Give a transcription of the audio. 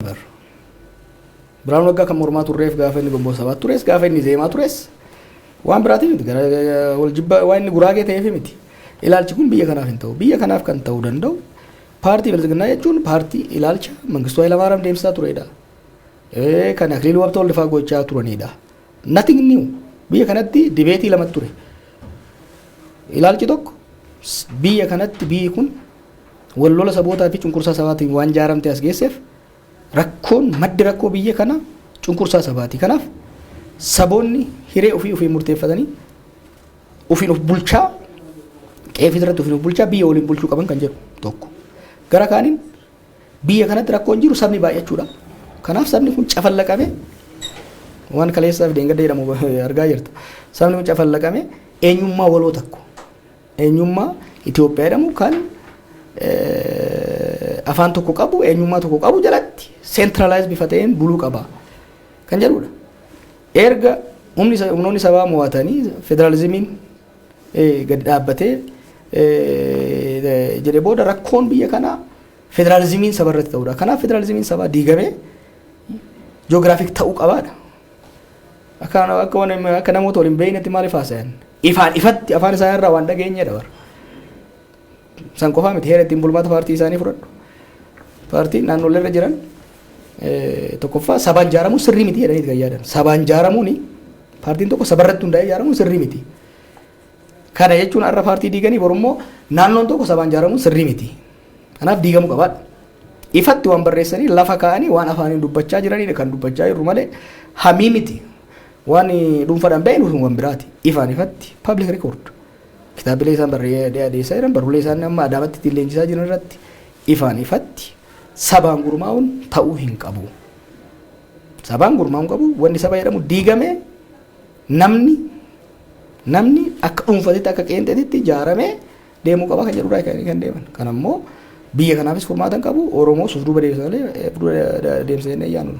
Bar. Biraan waggaa kan mormaa turreef gaafa inni gomboo sabaatti tures gaafa inni zeemaa tures waan biraatiif miti gara wal jibba waan inni guraagee ta'eef miti. Ilaalchi kun biyya kanaaf hin ta'u. Biyya kanaaf kan ta'uu danda'u paartii bilisiginnaa jechuun paartii ilaalcha Mangistuu Hayilamaariyaam deemsisaa turedha. Eh, Kan Akiliiluu Habtoo Waldifaa gochaa turanidha. Nothing new. Biyya kanatti dibeetii lama ture. Ilaalchi tokko s- biyya kanatti biyyi kun wal lola sabootaa fi cunqursaa sabaatiin waan jaaramte as geesseef rakkoon maddi rakkoo biyya kana cunqursaa sabaati. Kanaaf saboonni hiree ofii ofiin murteeffatanii ofiin of bulchaa qeefii irratti ofiin of bulchaa biyya waliin bulchuu qaban kan jedhu tokko. Gara kaaniin biyya kanatti rakkoon jiru sabni baay'achuudha. Kanaaf sabni kun cafallaqame waan kaleessaaf deengadda jedhamu argaa jirta. Sabni kun cafallaqame eenyummaa waloo takko. Eenyummaa Itoophiyaa jedhamu kan afaan tokko qabu, eenyummaa tokko qabu jalatti centralize bifa ta'een buluu qaba kan jedhudha. Erga humni sa- humnoonni sabaa mo'atanii federaalizimiin eh, gadi dhaabbatee eh, jedhe booda rakkoon biyya kanaa federaalizimiin saba irratti ta'udha. Kanaaf federaalizimiin sabaa diigamee joogiraafik ta'uu qabaadha. Akka akka waan akka namoota waliin beeknetti maaliif haasayan? Ifaan ifatti afaan isaa irraa waan dhageenyedha bara. San qofaa miti heera ittiin bulmaata paartii isaanii fudhadhu. Paartiin naannolee irra jiran tokkoffaa sabaan ijaaramuun sirrii miti jedhanii kan yaadan. Sabaan ijaaramuun paartiin tokko sabarratti hundaa'ee ijaaramuun sirrii miti. Kana jechuun har'a paartii diiganii borummoo naannoon tokko sabaan ijaaramuun sirrii miti. Kanaaf diigamuu qabaadha. Ifatti waan barreessanii lafa kaa'anii waan afaaniin dubbachaa jiranidha kan dubbachaa jirru malee hamii miti. Waan dhuunfaadhaan ba'e nuuf waan biraati. Ifaan ifatti public record. Kitaabilee isaan barreessee adeessaa jiran barruulee isaan amma adaamatti ittiin leenjisaa jiran irratti ifaan ifatti sabaan gurmaa'uun ta'uu hin qabu. Sabaan gurmaa'uun qabu wanni saba jedhamu diigamee Namni namni akka dhuunfatitti akka qeenxeetitti ijaaramee deemuu qaba kan jedhurraa kan kan deeman. Kan ammoo biyya kanaafis furmaata hin qabu. Oromoo suuf duuba deebisa malee eh, dura deemsa jennee yaanu.